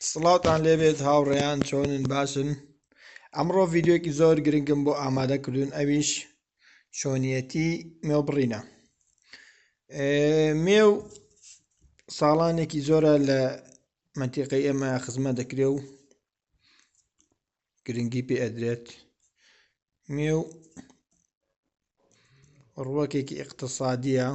سڵاوتان لێبێت هاوڕێیان چۆنن باشن ئەمڕۆ ڤیددیوکی زۆر گرنگم بۆ ئامادە کردوون ئەویش چۆنیەتی مێو بڕینە مێو ساڵانێکی زۆرە لە منتیقی ئێمە خزمە دەکرێ و گرنگی پێ ئەدرێت مێو ڕوەکێکی اقتصادیە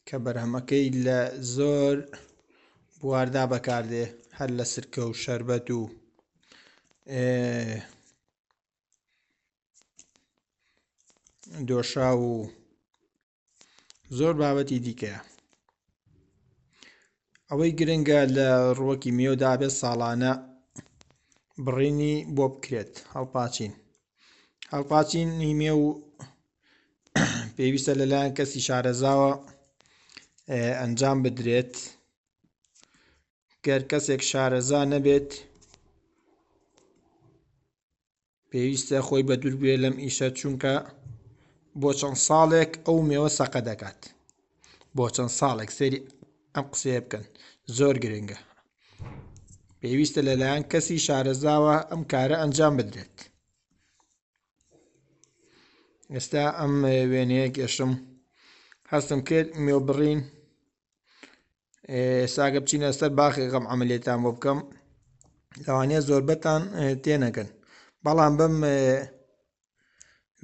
کە بەرهەمەکەی لە زۆر بواردا بەکاردێ هەر لە سرکە و شربەت و دۆشا و زۆر بابەتی دیکەیە ئەوەی گرنگە لە ڕوەکی میێودا بێت ساڵانە بڕینی بۆ بکرێت هەڵپاچین هەڵپاچینی مێ و پێویستە لەلایەن کەسی شارەزاوە ئەنجام بدرێت گەر کەسێک شارەزا نەبێت پێویستە خۆی بە دوورگوێ لەم ئیشە چونکە بۆ چەند ساڵێک ئەو مێوە سەقە دەکات بۆ چەند ساڵێک سەری ئەم قسەیە بکەن زۆر گرنگە پێویستە لەلایەن کەسی شارەزاوە ئەم کارە ئەنجام بدرێت ئێستا ئەم وێنەیە گەشتم هەستم کرد مێو بڕین ئێستاگە بچینە سەر باخی غەم ئەملێتان بۆ بکەم لەوانەیە زۆربەتان تێنەگەن بەڵام بم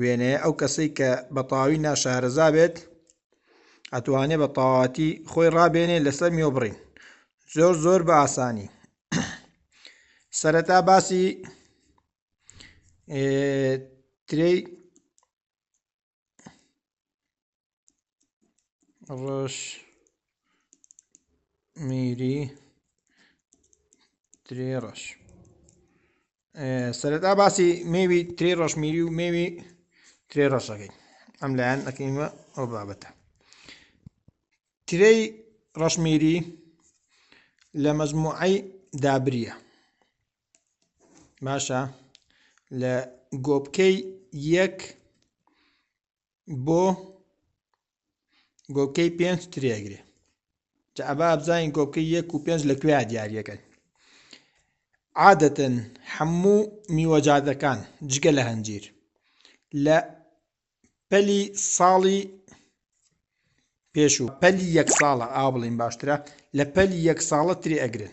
وێنەیە ئەو کەسەی کە بە تەواوی ناشارەزا بێت ئەتوانێت بە تەواتی خۆی ڕابێنێ لەسەر مێو بڕین زۆر زۆر بە ئاسانی سەرەتا باسی ترێی ڕۆژ میری ترێ ڕەش سەرەتا باسی مێوی ترێ ڕەشمیری و مێوی ترێ ڕەشەکەی ئەم لایەن ئەکەینمە ئەو بابەتە ترێی ڕەشمیری لە مەزموعی دابریە باشە لە گۆپکەی یەک بۆ گۆپکەی پێنج ترێگرێ جا ئەبا بزانین گۆپکەی یەک و پێنج لە کوێ دیارەکەن عادەتەن هەموو میوەجادەکان جگە لە هەنجیر لە پەلی ساڵی پێشوو پەلی یەک ساڵە ئا بڵین باشترە لە پەلی یەک ساڵە تری ئەگرن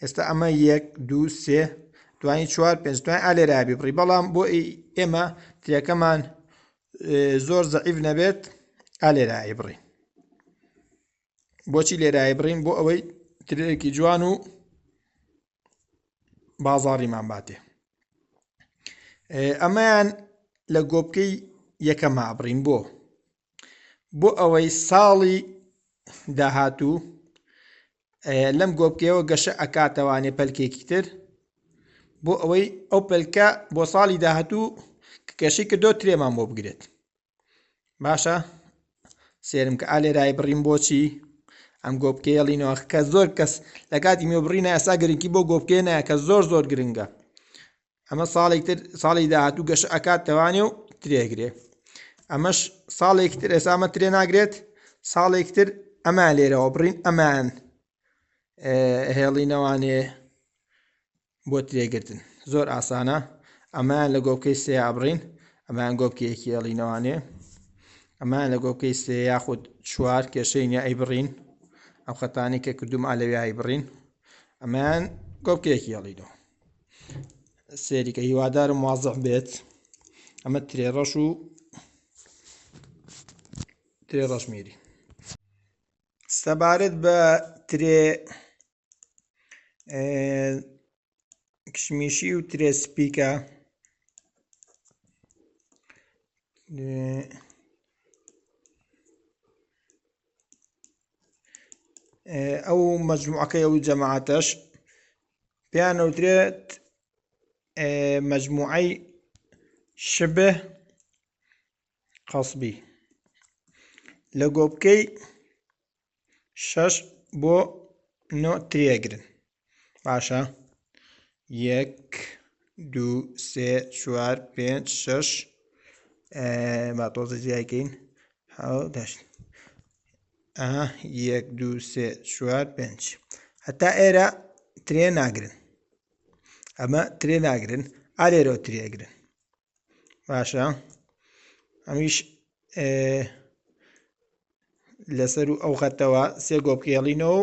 ئێستا ئەمە یەک دو سێ دوانی چوار پێنج دوای ئالێرابی بڕی بەڵام بۆ ئێمە ترەکەمان زۆر زەعیف نەبێت ئالێرایی بڕی بۆچی لێرایی بڕین بۆ ئەوەی ترێکی جوان و بازاڕیمان باتێ ئەمەیان لە گۆپکەی یەکەما بڕین بۆ بۆ ئەوەی ساڵی داهاتوو لەم گۆپکەیەوە گەشە ئەکاتەوانێ پەلکێکی تر بۆ ئەوەی ئەو پەلکە بۆ ساڵی داهاتوو کەشی کردۆ ترێمان بۆ بگرێت باشە سێرم کە ئالێرای بڕیم بۆچی ئەم گۆپکەیەڵینەوە کە زۆر کەس لە کاتی مێبڕینە ئەسا گرنگی بۆ گۆپکێنە کە زۆر زۆر گرنگە ئەمە ساڵێک تر ساڵی داهاتوو گەشە ئەکات تەوانێ و ترێگرێ ئەمەش ساڵێک تر ئێسامە ترێ ناگرێت ساڵێک تر ئەمان لێرەوە بڕین ئەمان هێڵینەوانێ بۆ ترێگرتن زۆر ئاسانە ئەمان لە گۆپکەی سێ ئابڕین ئەمان گۆپکەیەکی هێڵینەوانێ ئەمان لە گۆپکەی سێ یاخود چوار کێشەی نیە ئەی بڕین ئەم خەتانی کە کردوم ئالەویایی بڕین ئەمان گۆپکەیەکی هێڵینەوە سێریکە هیوادارم وازع بێت ئەمە ترێ ڕەش و ترێ ڕەشمیری سەبارەت بە ترێ کشمیشی و ترێ سپیکە ئەو مەجموعەکەی ئەو جەماعاتەش پێیان ئەوترێت مجموعەی شبه قەسبی لە گۆپکەی شەش بۆ نۆ ترێگرن باشە یەک دوو سێ چوار پێنج شەش با تۆزە جیایکەین حەوت هەشت ئەها یەک دوو سێ چوار پێنج هەتا ئێرە ترێ ناگرن ئەمە ترێ ناگرن ئالێرەوە ترێگرن باشە ئەمیش لەسەر و ئەو خەتەوە سێ گۆپکێڵینەوە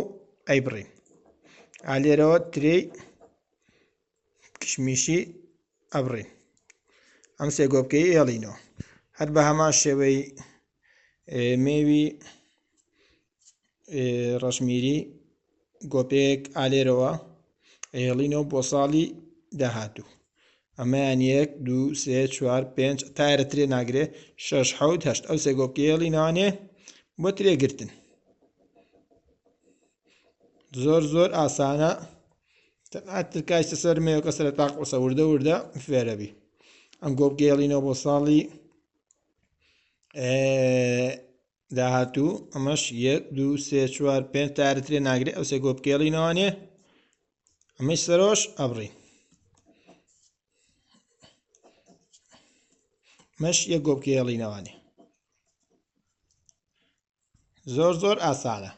ئەیبڕین ئالێرەوە ترێی کشمیشی ئەبڕین ئەم سێ گۆپکەی ئێڵینەوە هەر بە هەمان شێوەی مێوی ڕەشمیری گۆپێک ئالێرەوە ئێڵینەوە بۆ ساڵی داهاتوو ئەمەیان یەک دو سێ چوار پێنج تارە ترێ ناگرێ شش حوت هەشت ئەو سێ گۆپکەیەڵی ناوانێ بۆ ترێگرتن زۆر زۆر ئاسانە تەنها ترکایشتە سەر مێوەکە سەر تاق قسە وردە وردە فێرەبی ئەم گۆبگەێڵینەوە بۆ ساڵی داهاتوو ئەمەش یەک دو سێ چوار پێ تارترێ ناگرێت ئەو سێ گۆبگەێڵینەوەانێ ئەمەش سەرۆش ئەبڕین مەش یە گۆبکێڵینەوانی زۆر زۆر ئاسانە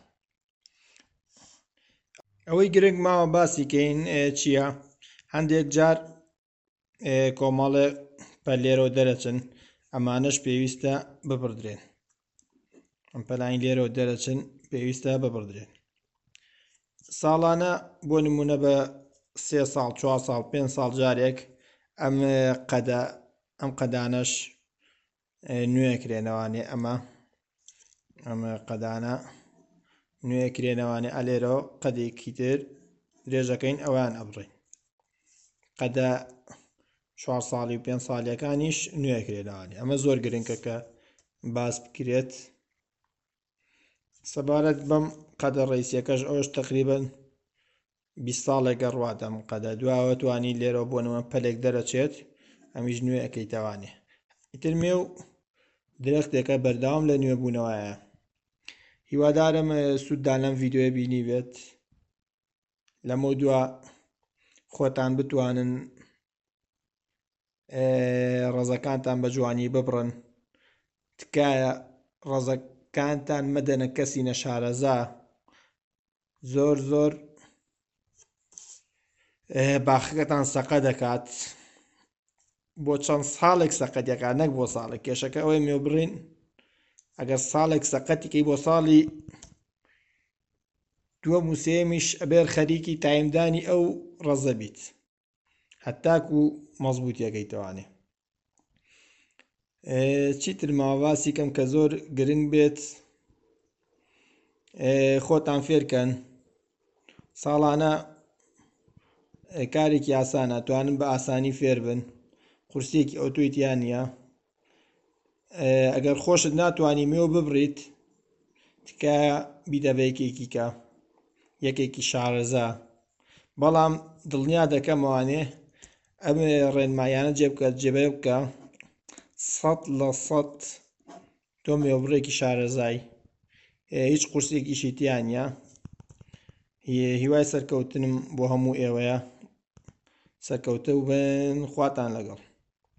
ئەوەی گرنگ ماوە باسی کەین چییە هەندێک جار کۆمەڵێ پەلێرەوە دەرەچن ئەمانەش پێویستە ببڕدرێن ئەم پەلانی لێرەوە دەرەچن پێویستە ببڕدرێن ساڵانە بۆ نمونە بە سێ ساڵ چوار ساڵ پێ ساڵ جارێک ئەم قەدە ئەم قەدانەش نوێ کرێنەوانێ ئەمە ئەمە قەدانە نوێ کرێنەوانێ ئەلێرەوە قەدێکی تر درێژەکەین ئەوان ئەبڕین قەدە چوار ساڵی و پێنج ساڵیەکانیش نوێ کرێنەوانی ئەمە زۆر گرنگە کە باس بکرێت سەبارەت بەم قەدە ڕیسیەکەش ئەوش تقریبن بیست ساڵێک گەڕوات ئەم قەدە دواوە توانی لێرەوە بۆ نەوە پەلێک دەرەچێت ئەمیش نوێ ئەەکەی تاوانێ ئیتر مێ و درەختێکە بەرداوام لە نوێ بوونەوەیە هیوادارم سووددان لەم ڤیددیوە بینی بێت لەمە دوا خۆتان بتوانن ڕەزەکانتان بە جوانی ببڕن تکایە ڕەزەکانتان مەدەنە کەسی نەشارەزا زۆر زۆر باخەکەتان سەقە دەکات بۆ چەند ساڵێک سەقەتەکە نەک بۆ ساڵێک کێشەکە ئەوەی مێ بڕین ئەگەر ساڵێک سەقەتیکەی بۆ ساڵی دووە موسێمیش ئەبێر خەریکی تایمدانی ئەو ڕەزە بیت هەتاکو مەزبوتیەکەی توانێ چیتر ماواسی کەم کە زۆر گرنگ بێت خۆتان فێرکەن ساڵانە کارێکی ئاسانە توانن بە ئاسانی فێر بن قورسێکی ئەوتۆی تیان نیە ئەگەر خۆشت ناتوانی مێو ببڕیت تکایە بیدە بە یەکێکی کە یەکێکی شارەزا بەڵام دڵنیا دەکەمەوانێ ئەم ڕێنمایانە جێ بکە جێبە بکە سەد لە سەد تۆ مێوبڕێکی شارەزای هیچ قورسێکیشی تیانە هیوای سەرکەوتنم بۆ هەموو ئێوەیە سەرکەوتە و بن خواتان لەگەڵ